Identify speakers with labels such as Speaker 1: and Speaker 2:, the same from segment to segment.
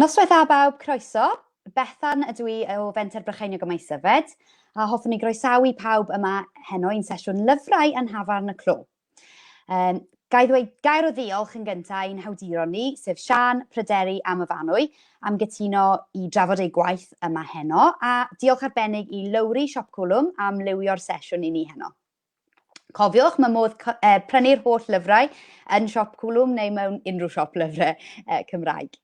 Speaker 1: Noswaith dda bawb, croeso. Bethan ydw i o Fenter Brycheiniog y Maesyfed, a hoffwn i groesawu pawb yma heno i'n sesiwn lyfrau yn Hafan y Clo. Um, Gai ddweud gair o ddiolch yn gyntaf i'n hawduron ni, sef Sian, Pryderi a Myfanwy, am gytuno i drafod eu gwaith yma heno, a diolch arbennig i Lowri Siop Cwlwm am lywio'r sesiwn i ni heno. Cofiwch, mae modd e, prynu'r holl lyfrau yn Siop Cwlwm neu mewn unrhyw siop lyfrau e, Cymraeg.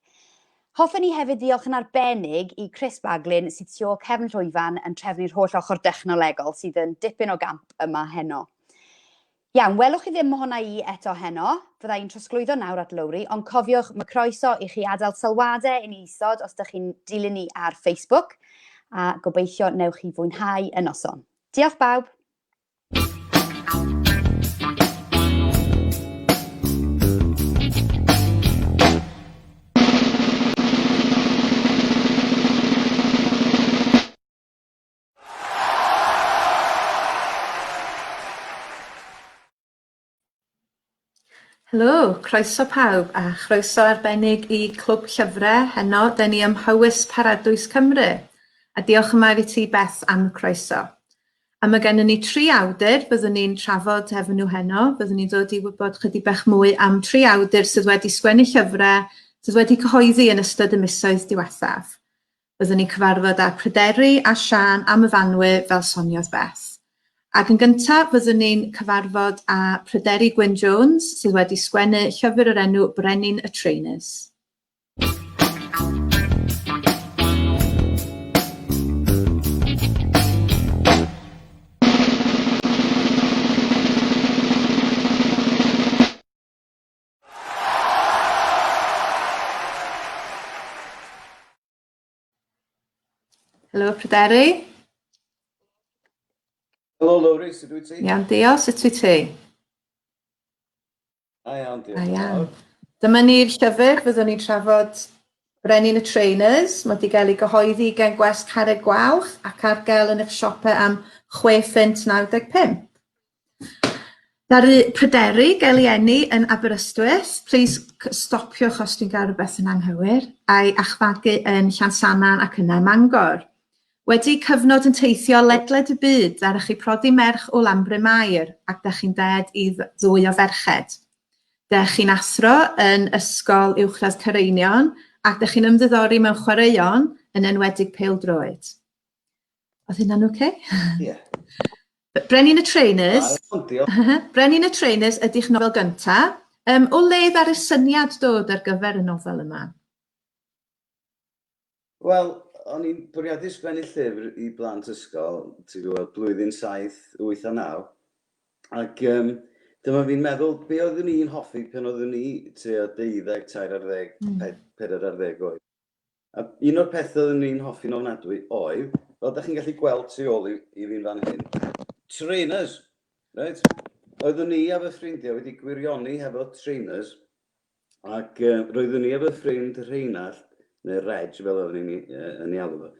Speaker 1: Hoffen ni hefyd ddiolch yn arbennig i Chris Baglin sydd tu ôl cefn llwyfan yn trefnu'r holl ochr dechnolegol sydd yn dipyn o gamp yma heno. Iawn, welwch chi ddim ohona i eto heno. Fydda i'n trosglwyddo nawr at Lowri, ond cofiwch, mae croeso i chi adael sylwadau i ni isod os dych chi'n dilyn ni ar Facebook, a gobeithio newch chi fwynhau y noson. Diolch bawb!
Speaker 2: Helo, croeso pawb a chroeso arbennig i Clwb Llyfrau heno, da ni ym Mhowys Paradwys Cymru. A diolch yma i ti Beth am y croeso. A mae gennym ni tri awdur, byddwn ni'n trafod efo nhw heno, byddwn ni'n dod i wybod chydig bach mwy am tri awdur sydd wedi sgwennu llyfrau sydd wedi cyhoeddi yn ystod y misoedd diwethaf. Byddwn ni'n cyfarfod â Pryderi a Siân am y Fanwe fel soniodd Beth. Ac yn gyntaf byddwn ni'n cyfarfod â Pryderi Gwyn Jones sydd wedi sgwennu llyfr yr enw Brenin y Traenus. Helo, Pryderi.
Speaker 3: Helo, Lowri, sut wyt ti? Iawn, diolch, sut wyt ti? A iawn,
Speaker 2: diolch.
Speaker 3: A iawn. Dyma ni'r
Speaker 2: llyfr, byddwn ni'n trafod Brenin y Trainers. Mae wedi cael ei gyhoeddi gen Gwest Carreg Gwalch ac ar gael yn eich siopau am 6.95. Ddaru pryderu gael ei eni yn Aberystwyth, plis stopiwch os dwi'n gael rhywbeth yn anghywir, a'i achfagu yn Llansannan ac yna ym Mangor. Wedi cyfnod yn teithio ledled y byd, ddaru chi prodi merch o Lanbryn Mair ac da chi'n ded i ddwy o ferched. Da chi'n athro yn Ysgol Uwchradd Cyreinion ac da chi'n ymddiddori mewn chwaraeon, yn enwedig pêl-droed. Oedd hynna'n oce? Okay? Ie. Yeah. Brenin y Trainers. Brenin y Trainers ydy'ch nofel gynta. Um, o le ar y syniad dod ar gyfer y nofel yma?
Speaker 3: Wel, o'n i'n bwriadu sgwennu llyfr i blant ysgol, ti'n gwybod, blwyddyn 7, 8 a 9. Ac um, dyma fi'n meddwl, be oeddwn i'n hoffi pan oeddwn i tua 12, 13 ar ddeg, mm. 14 ar ddeg oed. A un o'r pethe oeddwn ni'n hoffi'n ofnadwy oedd, fel 'dach chi'n gallu gweld tu ôl i i fi'n fan hyn, trainers! Reit? Oeddwn ni a fy ffrindiau wedi gwirioni hefo trainers ac yy roeddwn ni a fy ffrind Rheinald, neu Reg fel oeddwn ni'n i- yy yn ei alw fo,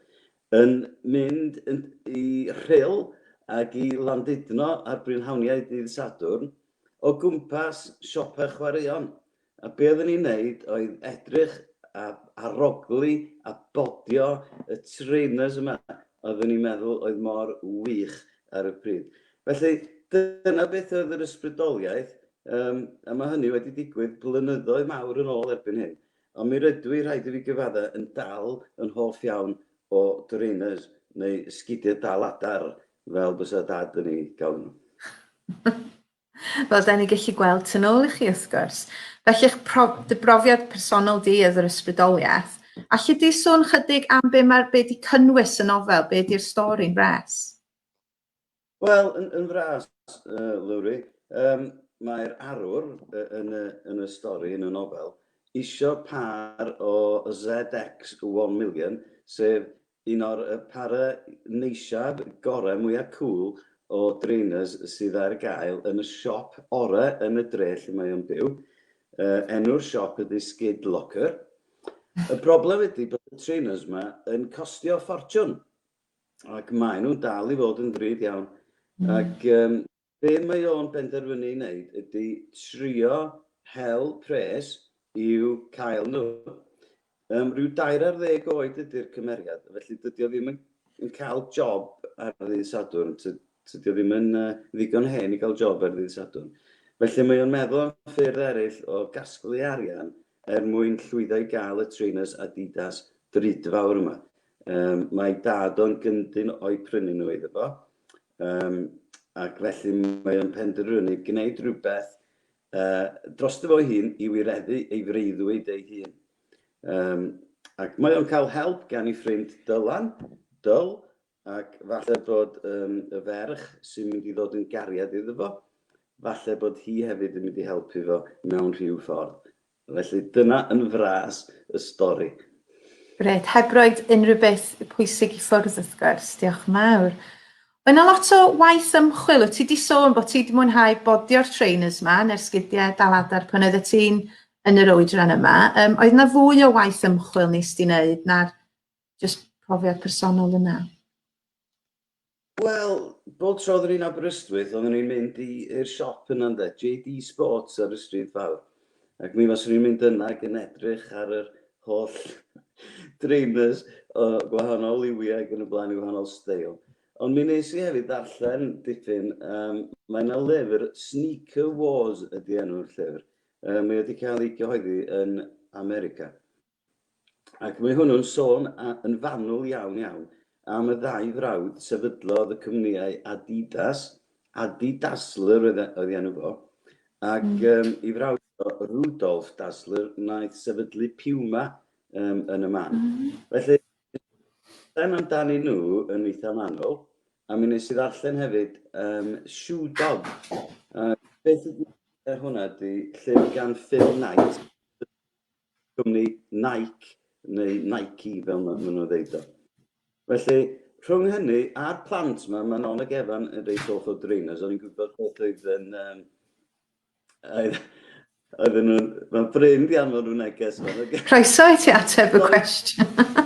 Speaker 3: yn mynd yn i Rhyl ac i Landudno ar brynhawniau dydd Sadwrn o gwmpas siopa chwaraeon. A be oedden ni'n neud oedd edrych a arogli a bodio y trainers yma oedden ni'n meddwl oedd mor wych ar y pryd. Felly, dyna beth oedd yr ysbrydoliaeth, yym, a ma' hynny wedi digwydd blynyddoedd mawr yn ôl erbyn hyn. Ond mi rydw i, rhaid i fi gyfadda', yn dal yn hoff iawn o drainers, neu 'sgidia' dal adar, fel bysa Dad yn eu galw nhw.
Speaker 2: Fel da ni gallu gweld tu nôl i chi wrth gwrs. Felly eich prof, dy brofiad personol di oedd yr ysbrydoliaeth. Alli di sôn chydig am be mae'r be di cynnwys y nofel, be di'r stori'n fras?
Speaker 3: Wel, yn, yn fras, uh, Lowri, um, mae'r arwr uh, yn, y, yn y stori, yn y nofel, isio par o ZX1 million, sef Un o'r para neisiaf gorau mwya cŵl o drainers sydd ar gael yn y siop orau yn y dre lle mae o'n byw. Enw'r siop ydy Skid Locker. Y broblem ydy bod y trainers ma yn costio ffortiwn ac maen nhw'n dal i fod yn ddrud iawn ac Be mae o'n benderfynu i wneud ydy trio hel pres i'w cael nhw. Yym, rhyw dair ar ddeg oed ydy'r cymeriad, felly dydy o ddim yn yn cael job ar ddydd Sadwrn, ty- tydy o ddim yn yy ddigon hen i gael job ar ddydd Sadwrn. Felly mae o'n meddwl am ffyrdd eraill o gasglu arian Er mwyn llwyddo i gael y trainers Adidas drudfawr yma. Yym, mae dad o'n gyndyn o'i prynu nhw iddo fo, um, ac felly mae o'n penderfynu gwneud rhywbeth uh, dros dy fo'i hun i wireddu ei freuddwyd ei hun. Um, ac mae o'n cael help gan ei ffrind Dylan, Dyl, Ac falle bod um, y ferch sy'n mynd i ddod yn gariad iddo fo, falle bod hi hefyd yn mynd i helpu fo mewn rhyw ffordd. Felly dyna yn fras y stori. Grêt,
Speaker 2: heb roed unrhyw beth pwysig i ffwrdd wrth gwrs, diolch yn fawr. Mae yna lot o waith ymchwil, wyt ti di sôn bod ti wedi mwynhau bodio'r trainers yma, neu'r sgidiau dal adar pan oeddet ti'n yn yr oedran yma. Um, oedd yna fwy o waith ymchwil nes di wneud na'r Jyst profiad personol yna. Wel,
Speaker 3: bob tro oeddwn i'n Aberystwyth, oeddwn i'n mynd i'r siop yna ynde, JD Sports ar y stryd fawr. Ac mi faswn i'n mynd yna ac yn edrych ar yr holl drainers o gwahanol liwiau ac yn y blaen i wahanol steil. Ond mi nes i hefyd ddarllen dipyn, um, mae yna lyfr, Sneaker Wars ydy enw'r llyfr. Um, mae wedi cael ei gyhoeddi yn America. Ac mae hwnnw'n sôn yn fanwl iawn, iawn am y ddau frawd sefydlodd y cwmnïau Adidas, Adi Dassler oedd ei enw fo, ac ei frawd o, Rudolf Dassler, wnaeth sefydlu Puma yn y man. Felly, dan amdanyn nhw yn eitha manwl, a mi nes i ddarllen hefyd um, Shoe Dog. Uh, beth ydy hwnna ydy llyfr gan Phil Knight, cwmni Nike, neu Nike fel maen nhw'n ddeud o. Felly, rhwng hynny a'r plant yma, mae Non ac Evan yn reit hoff o drainers, o'n i'n gwybod beth oedd yn... Um, oedden nhw'n... Mae'n brin di anfon nhw'n neges. Croeso i ti
Speaker 2: ateb y cwestiwn.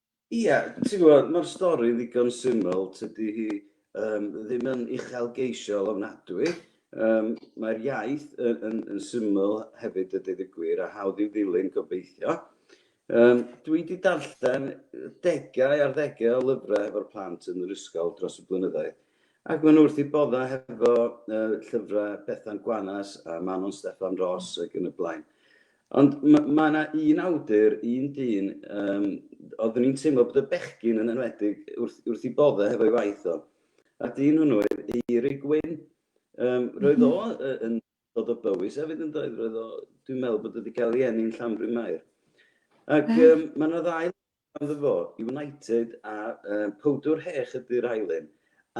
Speaker 3: Ia, ti'n gwybod, mae'r stori ddigon syml, tydi hi um, ddim yn uchelgeisiol ofnadwy. Um, Mae'r iaith yn, yn, yn syml hefyd y dydd y gwir a hawdd i'w ddilyn gobeithio. Um, dwi wedi darllen degau ar ddegau o lyfrau hefo'r plant yn yr ysgol dros y blynyddoedd. Ac maen nhw wrth i bodda hefo uh, llyfrau Bethan Gwanas a Manon Steffan Ross ac yn y blaen. Ond mae yna un awdur, un dyn, um, oeddwn i'n teimlo bod y bechgyn yn enwedig wrth, wrth i bodde hefo'i waith o. A dyn hwnnw oedd Eiri Gwyn. Um, roedd o mhm. yn dod o bywys hefyd yn doedd, roedd o, dwi'n meddwl bod wedi cael ei enni'n Llanbryn Mair. Ac um, mae yna ddau Ganddo fo, United a yy Powdwr Hech ydy'r ail un.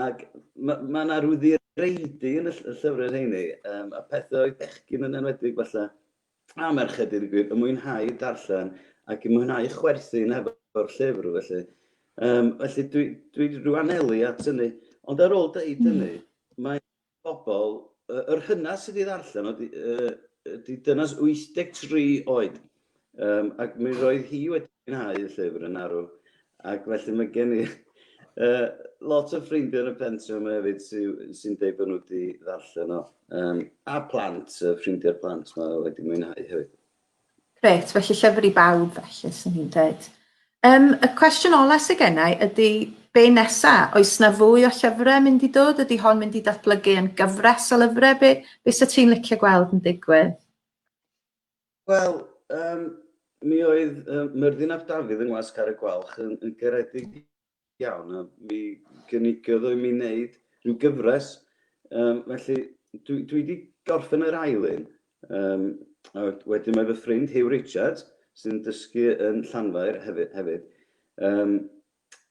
Speaker 3: Ac ma' ma' 'na ryw ddireidi yn y ll- y llyfrau rheini, yym a pethau oedd bechgyn yn enwedig falle, a merched deud y gwir, yn mwynhau darllen ac yn mwynhau chwerthin hefo'r llyfr felly. Yym felly dwi dwi ryw anelu at hynny. Ond ar ôl deud hynny, mae bobl, yy yr hynna sydd wedi ddarllen oedd ydy dynas 83 oed, um, ac mi roedd hi wedi mwynhau y llyfr yn arw, ac felly mae gen i uh, lot o ffrindiau yn y pensiwn yma hefyd sy'n sy deud bod nhw wedi ddarllen o, um, a plant, uh, ffrindiau'r plant mae wedi mwynhau hefyd. Grêt,
Speaker 2: felly llyfr i bawb felly, sy'n ni'n dweud. Um, y cwestiwn ola sy'n gennau ydy, be nesa? Oes na fwy o llyfrau mynd i dod? Ydy hon mynd i datblygu yn gyfres o lyfrau? Be, be sy'n ti'n licio gweld yn digwydd?
Speaker 3: Wel, um, mi oedd um, Myrddin ap Dafydd yng Ngwas Car y Gwalch yn, yn garedig Iawn, a mi gynigodd i mi wneud rhyw gyfres, um, felly dwi, dwi wedi gorffen yr ail un. Um, a wedyn mae fy ffrind Hugh Richards, sy'n dysgu yn Llanfair hefyd. hefyd. Um,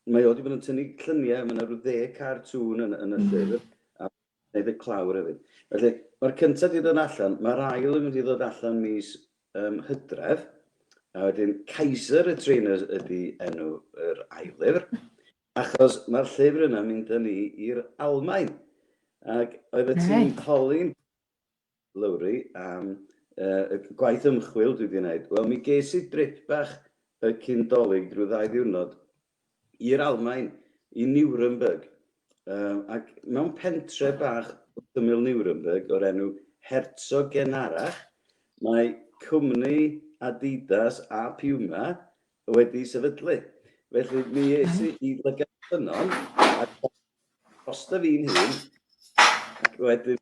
Speaker 3: mae o wedi bod yn tynnu lluniau, mae yna rhyw dde cartŵn yn, yn y llyfr, a Hefyd clawr hefyd. Felly, mae'r cyntaf wedi dod allan, mae'r ail yn mynd i ddod allan mis um, hydref, a wedyn Kaiser y Trainers ydy enw yr ail lyfr, achos mae'r llyfr yna mynd â ni i'r Almain. Ac oedd y tîm holi'n Lowri, am y gwaith ymchwil dwi 'di 'neud. Wel, mi ges i drip bach y cyn Dolig ryw ddau ddiwrnod i'r Almaen, i Nuremberg, ac mewn pentre bach wrth ymyl Nuremberg o'r enw Herzogenarach, mae cwmni Adidas a Puma wedi sefydlu. Felly mi es i i Lygad Ffynnon, a drosta fi'n hun, ac wedyn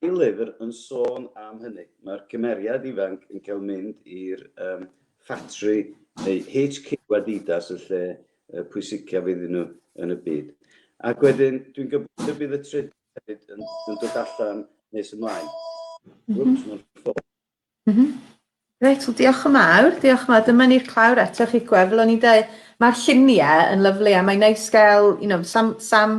Speaker 3: Y llyfr yn sôn am hynny. Mae'r cymeriad ifanc yn cael mynd i'r ffatri neu HQ Adidas, y lle pwysicaf iddyn nhw yn y byd. Ac wedyn, dwi'n gobeithio bydd y trydydd hefyd yn dod allan nes ymlaen. Wps, mae'n ffôn. Mhm. Reit,
Speaker 2: wel diolch yn mawr, diolch yn mawr. Dyma ni'r clawr eto chi gwefl. O'n i'n dweud, mae'r lluniau yn lyflu a mae'n neis gael, you know, sam, sam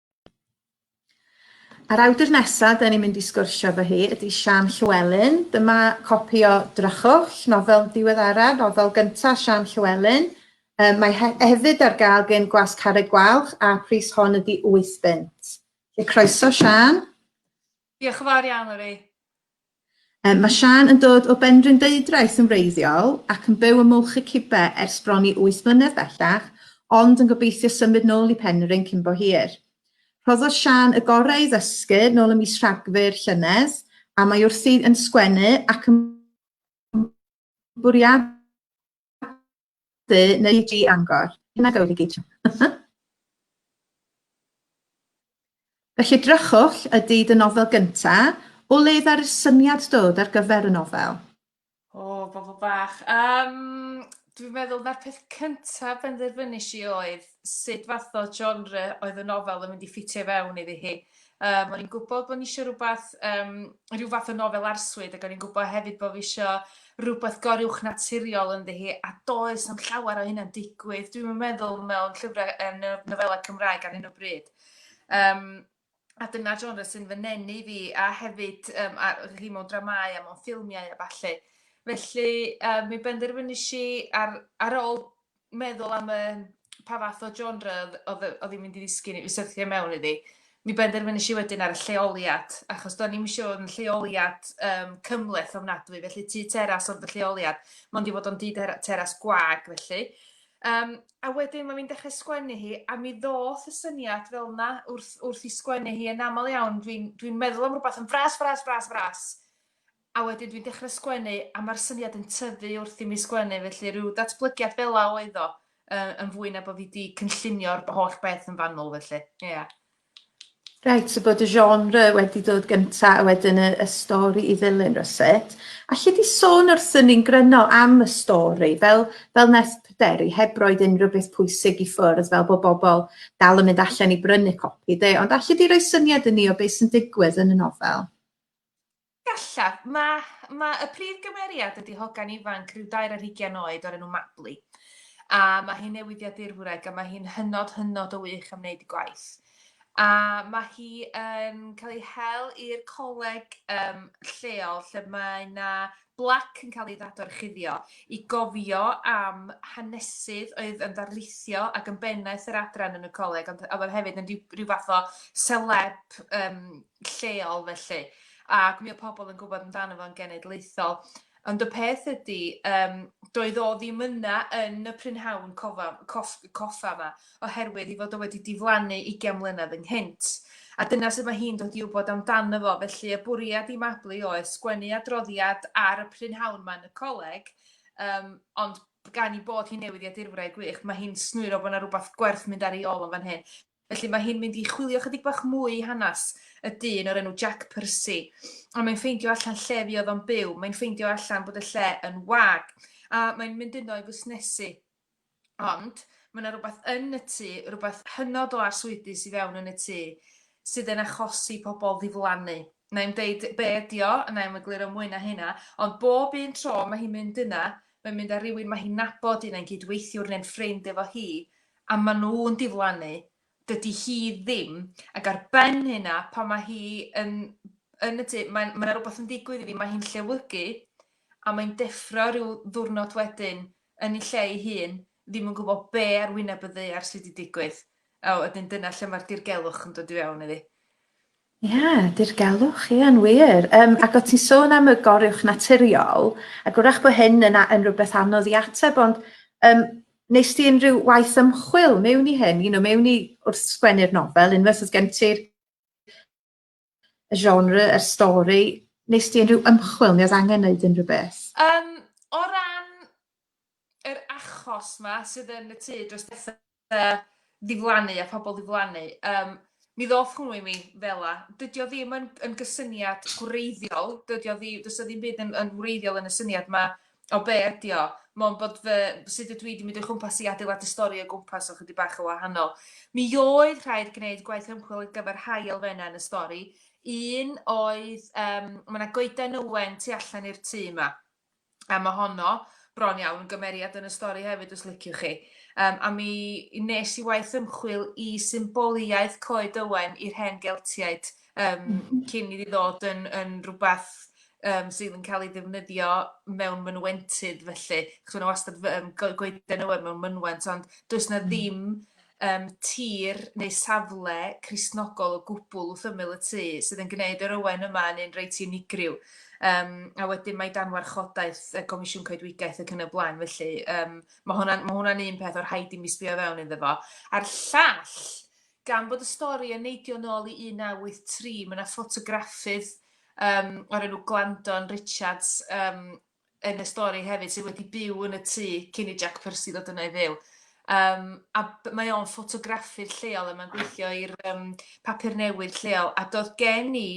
Speaker 2: A'r awdur nesaf dyn ni'n mynd i sgwrsio efo hi ydy Sian Llewelyn. Dyma copi o Drychwch, nofel diweddara, nofel gyntaf Sian Llewelyn. Um, mae he hefyd ar gael gen Gwas Carreg Gwalch a pris hon ydy 8 bunt. Lle croeso Sian.
Speaker 4: Diolch yn fawr iawn, Lari. Yym,
Speaker 2: mae Siân yn dod o Benrhyndeudraeth yn wreiddiol ac yn byw ym Mwlch y Cibe ers bron i wyth mlynedd bellach, ond yn gobeithio symud nôl i Penrhyn cyn bo hir. Rhoddodd Siân y gorau i ddysgu nôl ym mis Rhagfyr llynedd, a mae wrthi yn sgwennu ac yn bwriadu Dy neu di angor. Hynna gywir i gyd. Felly drychwll ydy dy nofel gynta, o le ddaru'r syniad dod ar gyfer y nofel? O,
Speaker 4: bobl bach. Um, dwi'n meddwl na'r peth cyntaf benderfynus i oedd sut fath o genre oedd y nofel yn mynd i ffitio fewn iddi hi. Um, o'n i'n gwybod bod ni eisiau rhywbeth, um, rhyw fath o nofel arswyd, ac o'n i'n gwybod hefyd bod fi eisiau rhywbeth goruwch naturiol ynddi hi, a does am llawer o hynna'n digwydd. Dwi'n meddwl mewn llyfrau um, nofelau Cymraeg ar hyn o bryd. Um, a dyna genre sy'n fy nenu fi, a hefyd um, a, chi mewn dramau a mewn ffilmiau a falle. Felly, um, mi benderfynu si ar, ar ôl meddwl am y, pa fath o genre oedd oedd hi'n mynd i ddisgyn i syrthio mewn iddi. Mi benderfynais i wedyn ar y lleoliad, achos do'n i'm eisiau fod yn lleoliad um, cymleth ofnadwy, felly tu teras ond y lleoliad, mond i fod o'n dŷ teras gwag felly. Um, a wedyn mae'n dechrau sgwennu hi, a mi ddoth y syniad fel yna wrth, wrth i sgwennu hi yn aml iawn, dwi'n dwi meddwl am rhywbeth yn fras, fras, fras, fras, A wedyn dwi'n dechre sgwennu a ma'r syniad yn tyfu wrth i mi sgwennu felly ryw datblygiad fela oedd o yy yn fwy na bo' fi 'di cynllunio'r holl beth yn fanwl felly. Ia. Reit,
Speaker 2: so bod y genre wedi dod gynta a wedyn y, y stori i ddilyn rywsut. Alli di sôn wrth yn ni'n gryno am y stori, fel, fel nes pryderu, heb roed unrhyw beth pwysig i ffwrdd, fel bod bobl dal yn mynd allan i brynu copi, de, ond alli di roi syniad i ni o beth sy'n digwydd yn y nofel?
Speaker 4: Gallaf. Mae, mae y prif gymeriad ydy hogan ifanc rhyw dair ar hugian oed o'r enw Mabli. A mae hi'n newyddiadurwraig a mae hi'n hynod, hynod o wych am wneud ei gwaith. A mae hi yn cael ei hel i'r coleg um, lleol lle mae yna blac yn cael ei ddadorchuddio i gofio am hanesydd oedd yn ddarlithio ac yn bennaeth yr adran yn y coleg, ond oedd hefyd yn rhyw, rhyw fath o celeb um, lleol felly. ac mi oedd pobl yn gwybod amdano fo'n genedlaethol. Ond y peth ydy, um, doedd o ddim yna yn y prynhawn cofa, cof, coffa yma, oherwydd i fod o wedi diflannu 20 mlynedd ynghynt. A dyna sut mae hi'n dod i wybod amdano fo, felly y bwriad i Mabli oes sgwennu adroddiad ar y prynhawn yma yn y coleg, um, ond gan i bod hi'n newydd i adirwraig gwych, mae hi'n snwyro bod yna rhywbeth gwerth mynd ar ei ôl yn fan hyn. Felly mae hi'n mynd i chwilio chydig bach mwy i hanes y dyn o'r enw Jack Percy. Ond mae'n ffeindio allan lle fi oedd o'n byw. Mae'n ffeindio allan bod y lle yn wag. A mae'n mynd yno i fusnesu. Ond mae yna rhywbeth yn y tŷ, rhywbeth hynod o arswydus i fewn yn y tŷ, sydd yn achosi pobl ddiflannu. Na i'n deud be ydi o, na i'n egluro mwy na hynna, ond bob un tro mae hi'n mynd yna, mae'n mynd â rhywun mae hi'n nabod, un ein cydweithiwr neu'n ffrind efo hi, a maen nhw'n diflannu, dydy hi ddim, ac ar ben hynna, pan mae hi yn yn y tŷ, mae 'na rhywbeth yn digwydd iddi, mae hi'n llewygu, a mae'n deffro rhyw ddiwrnod wedyn yn ei lle ei hun, ddim yn gwybod be ar wyneb y ddaear sydd wedi digwydd, a wedyn dyna lle mae'r dirgelwch yn dod i fewn iddi. Ie,
Speaker 2: dirgelwch, ie, yn wir. Um, ac o ti'n sôn am y goruwch naturiol, ac wrach bod hyn yn, yn rhywbeth anodd i ateb, ond um, nes ti unrhyw waith ymchwil mewn i hyn, you know, mewn i wrth sgwennu'r nofel, unwaith oedd gen ti'r genre, y stori, nes ti unrhyw ymchwil, neu oedd angen wneud unrhyw beth? Um, o
Speaker 4: ran yr achos ma sydd yn y tŷ dros bethau, uh, ddiflannu a pobl ddiflannu. Um, mi ddoth hwnnw i mi fel a. Dydy o ddim yn, yn gysyniad gwreiddiol, dydy o ddim, dydy o ddim byd yn, yn wreiddiol yn y syniad yma o be ydy o. Mae'n bod fy, sut ydw i wedi mynd o'i chwmpas i adeiladu stori o gwmpas o chydig bach o wahanol. Mi oedd rhaid gwneud gwaith ymchwil ar gyfer rhai elfennau yn y stori. Un oedd, um, mae yna goeden ywen tu allan i'r tŷ yma. A mae honno bron iawn yn gymeriad yn y stori hefyd os liciwch chi. Um, a mi nes i waith ymchwil i symboliaeth Coed Ywen i'r hen Geltiaid um, cyn iddi ddod yn, yn rhywbeth um, sydd yn cael ei ddefnyddio mewn mynwentydd felly. Chos yna wastad um, goeden ywen mewn mynwent, ond does na ddim yym, tir neu safle Cristnogol o gwbl wrth ymyl y tŷ, sydd yn gwneud yr ywen yma yn un reit unigryw. Um, a wedyn mae dan warchodaeth y Comisiwn Coedwigaeth ac yn y blaen, felly um, mae hwnna'n ma hwnna un peth o'r rhaid i mi sbio fewn iddo fo. A'r llall, gan bod y stori yn neidio nôl i 1983, mae yna ffotograffydd um, o'r enw Glandon Richards um, yn y stori hefyd sydd wedi byw yn y tŷ cyn i Jack Percy ddod yna i fyw. Um, a mae o'n ffotograffu'r lleol a mae'n gweithio i'r um, papur newydd lleol a doedd gen i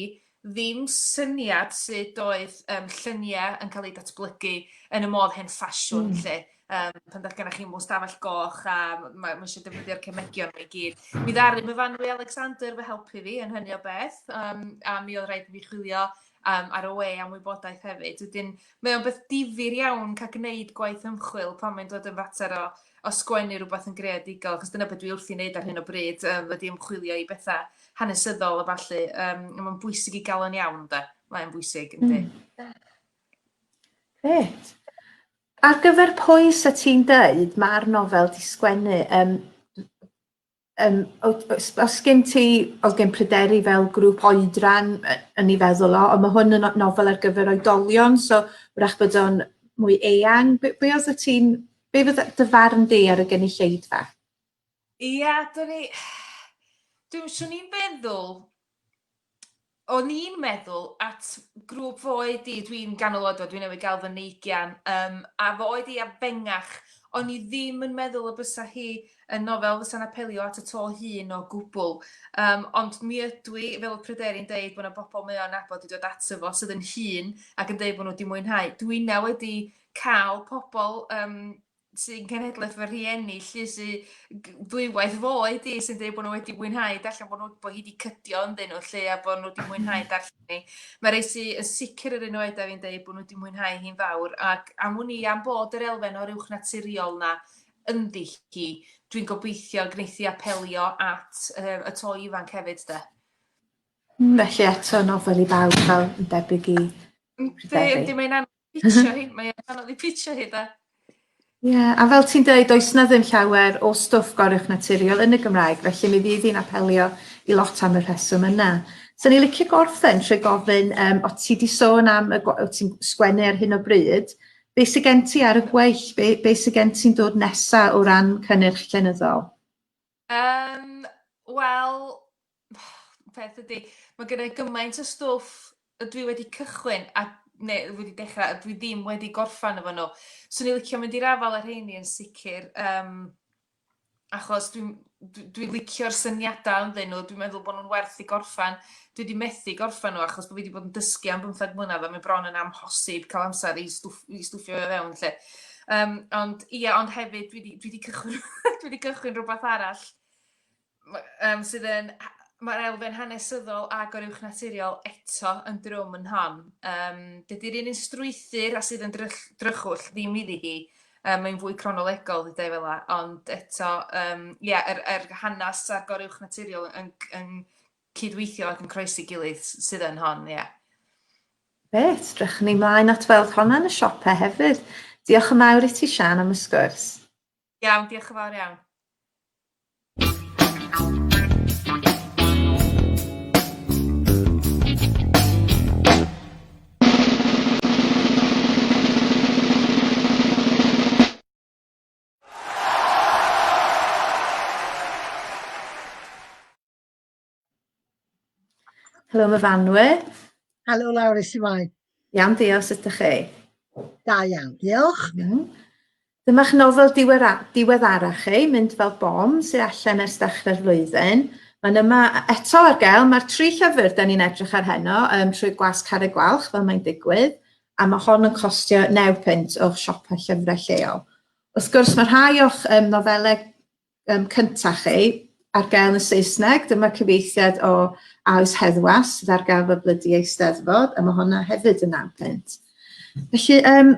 Speaker 4: ddim syniad sut oedd um, lluniau yn cael eu datblygu yn y modd hen ffasiwn mm. lle. Um, pan ddaeth gennych chi mwy stafell goch a mae ma eisiau defnyddio'r cemegion i gyd. Mi ddaru myfanwy Alexander fy helpu fi yn hynny o beth um, a mi oedd rhaid i fi chwilio um, ar y we am wybodaeth hefyd. Wedyn, mae o'n beth difyr iawn cael gwneud gwaith ymchwil pan mae'n dod yn fater o, o sgwennu rhywbeth yn greadigol, achos dyna beth dwi wrth i wneud ar hyn o bryd, um, wedi ymchwilio i bethau hanesyddol a falle. Um, mae'n bwysig i gael o'n iawn, da. Mae'n bwysig, ynddi. Mm.
Speaker 2: Gret. Ar gyfer pwy sy'n ti'n dweud mae'r nofel di sgwennu, um, Yym o- os os sgin ti os gen pryderu fel grŵp oedran yy yn ei feddwl o on' ma' hwn yn no- nofel ar gyfer oedolion so 'w'rach bod o'n mwy eang be' be' odd y ti'n be' fydde dy farn di ar y gynulleidfa?
Speaker 4: Ia 'dyn ni dw- swn i'n feddwl o'n i'n meddwl at grŵp fo oed i, dwi'n ganol oed o, dwi'n newid gael fy neigian, um, a fo oed i a fengach, o'n i ddim yn meddwl y bysa hi yn nofel fysa'n apelio at y to hun o gwbl. Um, ond mi ydw i, fel y pryderu'n dweud, bod yna bobl mae o'n abod i dod ato fo sydd yn hun ac yn dweud bod nhw wedi mwynhau. Dwi na wedi cael pobl um, sy'n cenhedlaeth fy rhieni lly sy ddwywaith foe di sy'n dweud bod nhw wedi mwynhau darllen bod, nhw, bod hi wedi cydio ynddyn nhw lly a bod nhw wedi mwynhau mm. darllen ni. Mae rei sy'n yn sicr yr un oed a fi'n dweud bod nhw wedi mwynhau hi'n fawr ac am wn i am bod yr elfen o'r uwch naturiol na ynddi hi, dwi'n gobeithio gwneithi apelio at uh, y to ifanc hefyd de.
Speaker 2: Felly eto nofel i bawb fel yn debyg i Yndi, yndi, mae'n anodd
Speaker 4: Pitio hi, mae e'n anodd i pitio hi da. Ie, yeah, a
Speaker 2: fel ti'n dweud, oes na ddim llawer o stwff goruwch naturiol yn y Gymraeg, felly mi fydd hi'n apelio i lot am y rheswm yna. So ni'n licio gorffen trwy gofyn, um, o ti di sôn am y o ti'n sgwennu ar hyn o bryd, be sy'n gen ti ar y gweill, be, be sy'n gen ti'n dod nesa o ran cynnyrch llenyddol? Yym,
Speaker 4: wel, peth ydy, mae gen i gymaint o stwff y dwi wedi cychwyn, a, neu wedi dechrau, a dwi ddim wedi gorffan efo nhw. So ni'n licio mynd i'r afal ar rheini yn sicr, um, achos dwi'n dwi, dwi licio'r syniadau ynddyn nhw, dwi'n meddwl bod nhw'n werth i gorffan. dwi wedi methu gorffen nhw achos bod fi wedi bod yn dysgu am bymtheg mlynedd a mae bron yn amhosib cael amser i, stwff, i stwffio fe fewn lle. Um, ond ie, ond hefyd dwi wedi cychwyn, dwi wedi cychwyn rhywbeth arall um, sydd yn mae'r elfen hanesyddol a goruwch naturiol eto yn drwm yn hon. Um, Dydy'r un yn strwythyr a sydd yn drych, drychwll ddim iddi hi. Um, mae'n fwy cronolegol, dwi dweud fel ond eto, um, yeah, er, er hanes a goruwch naturiol yn, yn, yn cydweithio ac yn croesi gilydd sydd yn hon, ie. Grêt,
Speaker 2: drychwn ni mlaen at weld honna yn y siope hefyd. Diolch yn fawr i ti Sian am y sgwrs. Iawn, diolch
Speaker 4: yn fawr iawn.
Speaker 2: Helo, mae fanwe. Helo, lawr
Speaker 5: i siwai. Iawn, diolch, sut
Speaker 2: ydych chi? Da iawn,
Speaker 5: diolch. Mm.
Speaker 2: Dyma'ch nofel diweddarach chi, Mynd fel bom, sy'n allan ers dechrau'r flwyddyn. Mae'n yma eto ar gael. Mae'r tri llyfr da ni'n edrych ar heno um, trwy gwas car y gwalch fel mae'n digwydd, a mae hon yn costio 9 pint o'ch siopau llyfrau lleol. Wrth gwrs, mae rhai o'ch um, nofelau um, cyntaf chi ar gael yn y Saesneg. Dyma cyfeithiad o Aws Heddwas sydd ar gael fel blydi eisteddfod, a mae hwnna hefyd yn naw pwynt. Felly, um,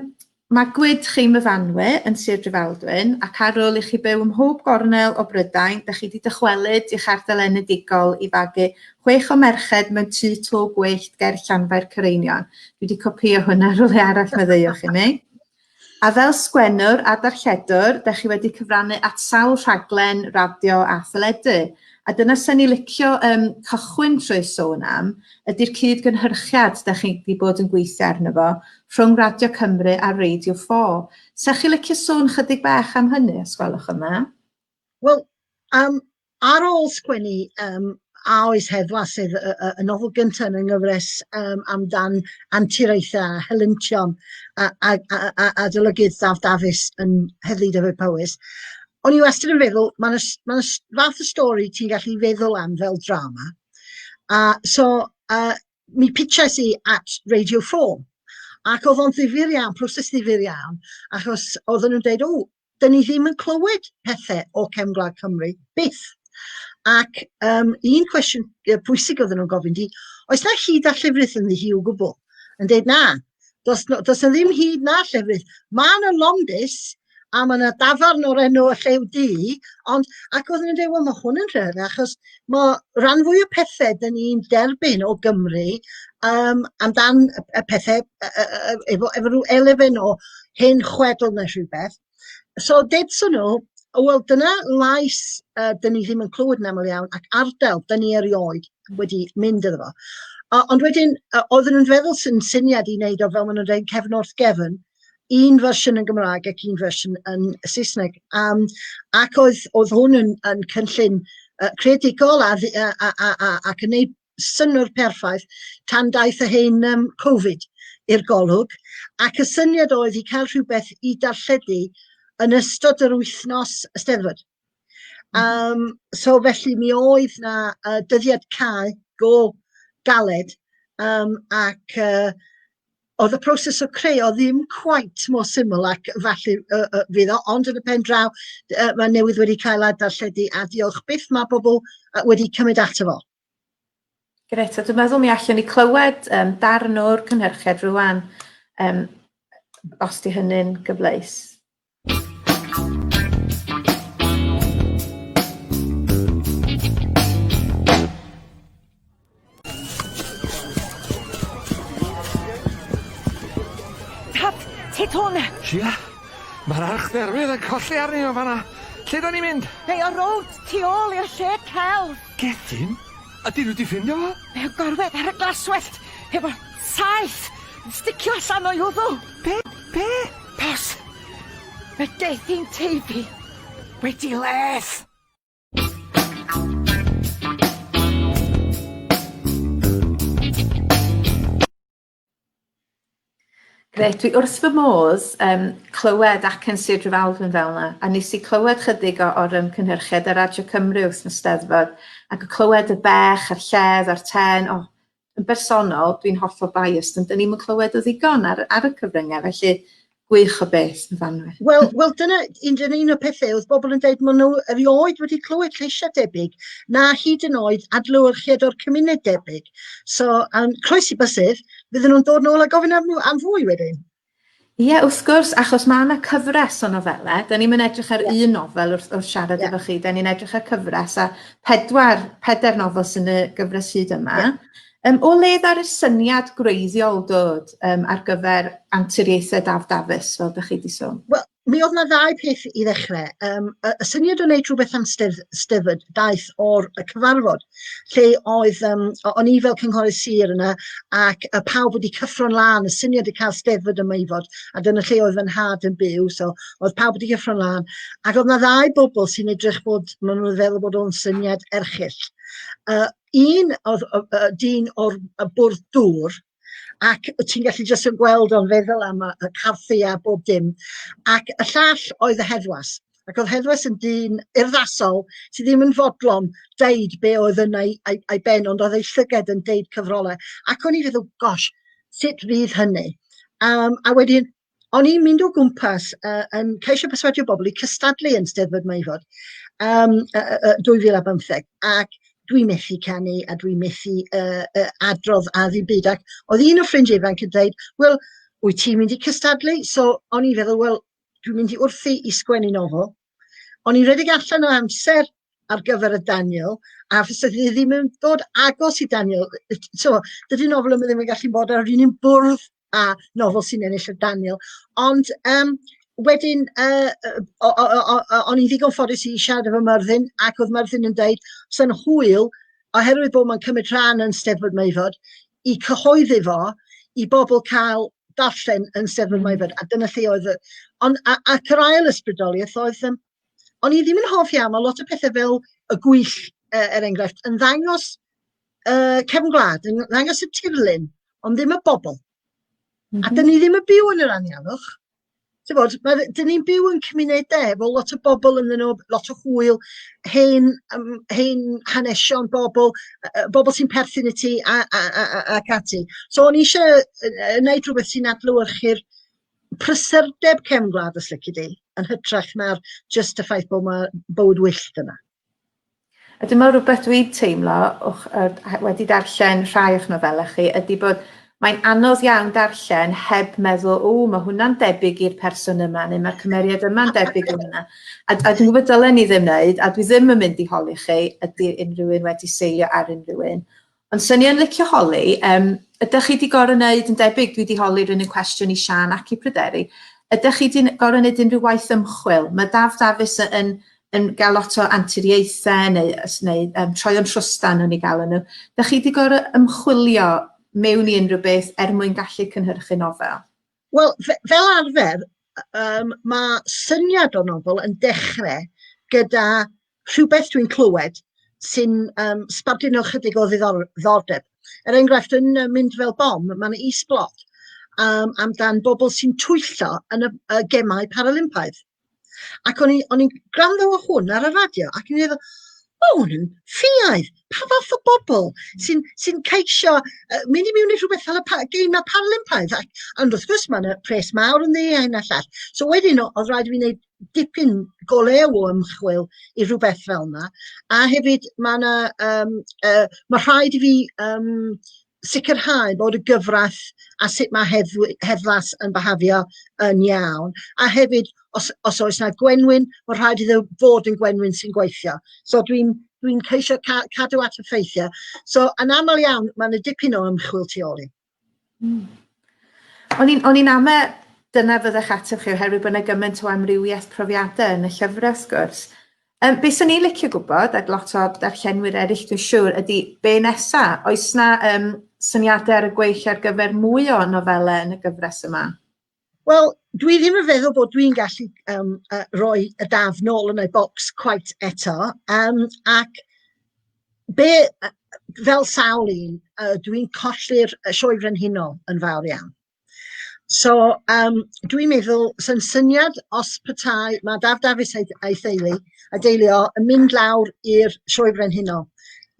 Speaker 2: mae gwyd chi myfanwe yn Sir Drefaldwyn ac ar ôl i chi byw ym mhob gornel o Brydain, da chi wedi dychwelyd i'ch ardal enedigol i fagu chwech o merched mewn tu to gwyllt ger Llanfair Cyreinion. Dwi wedi copio hwnna rhywle arall, meddwch i mi. A fel sgwennwr a darlledwr, dach chi wedi cyfrannu at sawl rhaglen radio a theledu, a dyna sen i licio um, cychwyn trwy sôn am, ydy'r cyd-gynhyrchiad dach chi wedi bod yn gweithio arno fo rhwng Radio Cymru a Radio 4. Sech chi licio sôn chydig bach am hynny, os gwelwch yn dda? Wel,
Speaker 5: yym, ar ôl sgwennu yym A Oes Heddwas, sef y y y nofel gynta' yn y nghyfres yym amdan anturiaethau a helyntion a a a a a adolygydd Daf Dafis yn Heddlu Dyfed Powys, o'n i wastad yn feddwl, ma' 'na s- ma' 'na s- fath o stori ti'n gallu feddwl am fel drama, a so yy mi pitshais i at Radio Four, ac o'dd o'n ddifyr iawn, proses ddifyr iawn, achos oedden nhw'n deud, 'w, dyn ni ddim yn clywed pethe o Cefn Gwlad Cymru, byth. Ac um, un cwestiwn pwysig oedden nhw'n gofyn di, oes na hyd a llefrith yn ddi hi o gwbl? Yn dweud na, does, no, does na ddim hyd na llefrith. Mae yna londus a mae yna dafarn o'r enw y llew di, ond ac oedden nhw'n dweud, wel mae hwn yn rhywbeth achos Mae rhan fwy o pethau dyn ni'n derbyn o Gymru um, amdan y pethau efo, efo rhyw elfen o hen chwedl neu rhywbeth. So, dedson nhw, wel, dyna lais uh, dyn ni ddim yn clywed yn aml iawn ac ardal dyn ni erioed wedi mynd iddo fo. Uh, ond wedyn, uh, oedden nhw'n feddwl sy'n syniad i wneud o fel maen nhw'n dweud cefn wrth gefn, un fersiwn yn Gymraeg ac un fersiwn yn Saesneg. Um, ac oedd, oedd hwn yn, yn cynllun uh, credigol a, a, a, a, a, ac yn ei synnwyr perffaith tan daeth y hyn um, Covid i'r golwg. Ac y syniad oedd i cael rhywbeth i darlledu yn ystod yr wythnos ysteddfod. Um, so felly mi oedd na uh, dyddiad cael go galed um, ac uh, oedd y proses o creu o ddim cwaith mor syml ac falle uh, uh, fydd o, ond yn y pen draw uh, mae newydd wedi cael adarlledu a diolch beth mae bobl uh, wedi cymryd ato fo.
Speaker 2: Gret, a dwi'n meddwl mi allwn ni clywed um, darn o'r cynhyrchiad rwan, um, os di hynny'n gyfleus.
Speaker 6: Sia?
Speaker 7: Mae'r archdderwydd yn colli arni o fanna. Lle
Speaker 6: da
Speaker 7: ni'n mynd?
Speaker 6: They
Speaker 7: are
Speaker 6: out,
Speaker 7: tu
Speaker 6: ôl
Speaker 7: i'r
Speaker 6: shed
Speaker 7: celf.
Speaker 6: Gethin? Ydyn
Speaker 7: nhw 'di ffindio fo? Mae o'n gorwedd ar y
Speaker 6: glaswellt efo saeth yn sticio allan o'i wddw. Be? Be?
Speaker 7: Pos.
Speaker 6: Mae Gethin Teifi wedi les.
Speaker 2: Grêt, dwi wrth fy modd um, clywed ac yn Sir Drefaldwyn fel yna, a nes i clywed chydig o, o'r ymgynhyrchiad ar Radio Cymru wrth fy steddfod, ac y clywed y bech a'r lledd a'r ten, o, oh, yn bersonol, dwi'n hollol biased, ond dyn ni'n clywed o ddigon ar, ar y cyfryngau, felly Gwych o beth, Myfanwy. Wel, wel dyna
Speaker 5: un, dyna un o pethau oedd bobl yn dweud maen nhw erioed wedi clywed lleisiau debyg na hyd yn oed adlewyrchiad o'r cymuned debyg. So, um, croes i bysydd, fydden nhw'n dod nôl a gofyn am, am fwy wedyn. Ie, yeah, wrth
Speaker 2: gwrs, achos mae yna cyfres o nofelau. Da ni'n mynd edrych ar yeah. un nofel wrth, wrth siarad yeah. efo chi. Da ni'n edrych ar cyfres a pedwar, peder nofel sy'n y gyfres hyd yma. Yeah. Um, o le ar y syniad gwreiddiol dod um, ar gyfer anturiaethau Daf Dafis, fel ydych chi wedi sôn? Wel, mi oedd yna ddau
Speaker 5: peth i ddechrau. Um, y, y syniad o wneud rhywbeth am stedd, steddfod daeth o'r y cyfarfod, lle oedd, um, o'n i fel cynghorydd sir yna, ac y pawb wedi cyffro'n lan, y syniad i cael steddfod yma i fod, a dyna lle oedd fy nhad yn byw, so oedd pawb wedi cyffro'n lan. Ac oedd yna ddau bobl sy'n edrych bod, maen nhw'n feddwl bod o'n syniad erchill. Uh, un o'r o- yy dyn o'r y bwrdd dŵr ac wyt ti'n gallu jyst yn gweld o'n feddwl am y y caffi a bob dim ac y llall oedd y heddwas ac oedd heddwas yn dyn urddasol sydd ddim yn fodlon deud be oedd yn ei, ei, ei ben ond oedd ei llyged yn deud cyfrolau ac o'n i'n feddwl gosh sut fydd hynny um, a wedyn o'n i'n mynd o gwmpas uh, yn ceisio perswadio bobl i cystadlu yn Steddfod Maefod um, uh, uh, 2015 ac dwi methu canu a dwi methu uh, uh, adrodd a ddim byd ac oedd un o ffrindiau ifanc yn dweud, wel, wyt ti'n mynd i cystadlu? So o'n i'n feddwl, wel, dwi'n mynd i wrthi i sgwennu nofel. O'n i'n redeg allan o amser ar gyfer y Daniel, a fes i ddim yn dod agos i Daniel. So, dydy nofel yma ddim yn gallu bod ar yr un bwrdd a nofel sy'n ennill y Daniel. Ond um, wedyn, uh, o'n i'n ddigon ffodus i siarad efo Myrddin, ac oedd Myrddin yn dweud, sy'n hwyl, oherwydd bod mae'n cymryd rhan yn Steddfod Meifod, i cyhoeddi fo i bobl cael darllen yn Steddfod mm. Meifod, a dyna lle oedd... Ond, ac yr ail ysbrydoliaeth oedd um, o'n i ddim yn hoff iawn, mae lot o pethau fel y gwyll, uh, er enghraifft, yn ddangos uh, cefn gwlad, yn ddangos y tirlun, ond ddim y bobl. Mm -hmm. A mhm. dyn ni ddim yn byw yn yr anialwch. Ti'n bod, mae, dyn ni'n byw yn cymunedau efo lot o bobl yn nhw, lot o hwyl, hen, um, hen hanesion bobl, uh, bobl sy'n perthyn i ti ac ati. So o'n i eisiau uh, wneud rhywbeth sy'n adlywyrchu'r prysurdeb cefn gwlad os lici di, yn hytrach na'r jyst y ffaith bod mae bywyd wyllt yna. A
Speaker 2: dyma rhywbeth dwi'n teimlo o'ch, uh, wedi darllen rhai o'ch nofelau chi, ydy bod mae'n anodd iawn darllen heb meddwl, o, mae hwnna'n debyg i'r person yma, neu mae'r cymeriad yma'n debyg i hwnna. A, a dwi'n gwybod dylen ni ddim wneud, a dwi ddim yn mynd i holi chi, ydy unrhyw un wedi seilio ar unrhyw un. Ond swn i yn licio holi, um, ydych chi wedi gorau wneud yn debyg, dwi wedi holi'r un cwestiwn i Sian ac i Pryderi, ydych chi wedi gorau wneud unrhyw waith ymchwil? Mae Daf Dafis yn, yn, yn gael lot o anturiaethau neu, neu um, troi o'n trwstan nhw'n ei gael nhw. Ydych chi wedi gorau ymchwilio mewn i unrhyw beth er mwyn gallu cynhyrchu nofel? Wel, fe- fel arfer,
Speaker 5: y- yym, ma' syniad o nofel yn dechre gyda rhywbeth dwi'n clywed sy'n yym sbarduno chydig o ddiddor- ddiddordeb. Er enghraifft, yn yy Mynd Fel Bom, ma' 'na is-blot yym amdan bobl sy'n twyllo yn y y gemau Paralympaidd. Ac o'n i'n i gwrando o hwn ar y radio ac o'n i'n meddwl, o, hwn yn ffiaidd. Pa fath o bobl sy'n sy ceisio uh, mynd i mewn i rhywbeth fel y pa, geimau parlympaidd? Ac, ond wrth gwrs, mae'n pres mawr yn ddi a hyn a llall. So wedyn, oedd rhaid i fi wneud dipyn golew o ymchwil i rhywbeth fel yna. A hefyd, mae yna, um, uh, mae rhaid i fi um, sicrhau bod y gyfraith a sut mae heddw- heddwas yn byhafio yn iawn. A hefyd, os, os oes yna gwenwyn, mae'n rhaid iddo fod yn gwenwyn sy'n gweithio. So dwi'n dwi ceisio ca cadw at y ffeithiau. So yn aml iawn, mae yna dipyn o ymchwil tu ôl i. Mm. O'n
Speaker 2: i'n o'n i'n ame dyna fyddech ateb chi oherwydd bod yna gymaint o amrywiaeth profiadau yn y llyfrau sgwrs. Um, be swn i'n licio gwybod, ac lot o darllenwyr eraill dwi'n siŵr, ydy be nesa? Oes na um, syniadau ar y gweill ar gyfer mwy o nofelau yn y gyfres yma? Wel,
Speaker 5: dwi ddim yn feddwl bod dwi'n gallu um, uh, roi y daf nôl yn ei bocs quite eto, um, ac be, fel sawl un, uh, dwi'n colli'r sioe frenhinol yn fawr iawn. So yym dwi'n meddwl sy'n syniad os petai ma' Daf Dafis a'i a'i theulu a'i deulu o yn mynd lawr i'r Sioe Frenhinol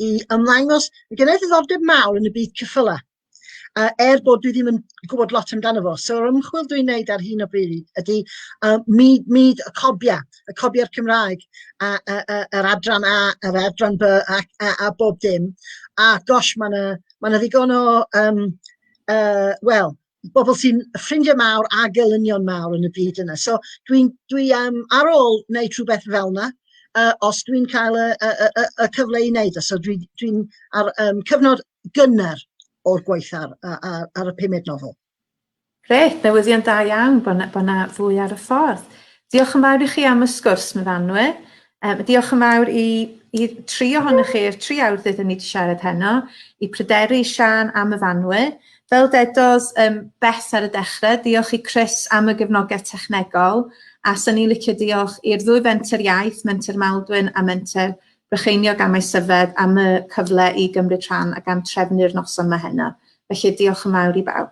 Speaker 5: i ymddangos, ma' gynna i ddiddordeb mawr yn y byd ceffyla, yy er bod dwi ddim yn gwbod lot amdano fo. So yr ymchwil dwi'n neud ar hyn o bryd ydi yy myd myd y cobia, y cobia'r Cymraeg a a a yr adran A a'r adran By ac a a bob dim a gosh ma' 'na ma' 'na ddigon o yym uh, wel, bobl sy'n ffrindiau mawr a gelynion mawr yn y byd yna. So dwi'n dwi, um, ar ôl wneud rhywbeth fel yna, uh, os dwi'n cael y, y, y, y cyfle i wneud, e. so dwi'n dwi, ar um, cyfnod gynnar o'r gwaith ar, ar, ar y pumed nofel. Gret,
Speaker 2: newyddion da iawn bod yna fwy ar y ffordd. Diolch yn fawr i chi am y sgwrs, Myfanwe. Um, diolch yn fawr i, i tri ohonych chi, i'r tri awr ddydyn ni wedi siarad heno, i pryderu Sian am y fanwy. Fel dedos um, beth ar y dechrau, diolch i Chris am y gefnogaeth technegol, a sy'n ni licio diolch i'r ddwy fenter iaith, menter Maldwyn a menter Brycheiniog am ei syfed am y cyfle i gymryd rhan ac am trefnu'r noson mae heno. Felly diolch yn fawr i bawb.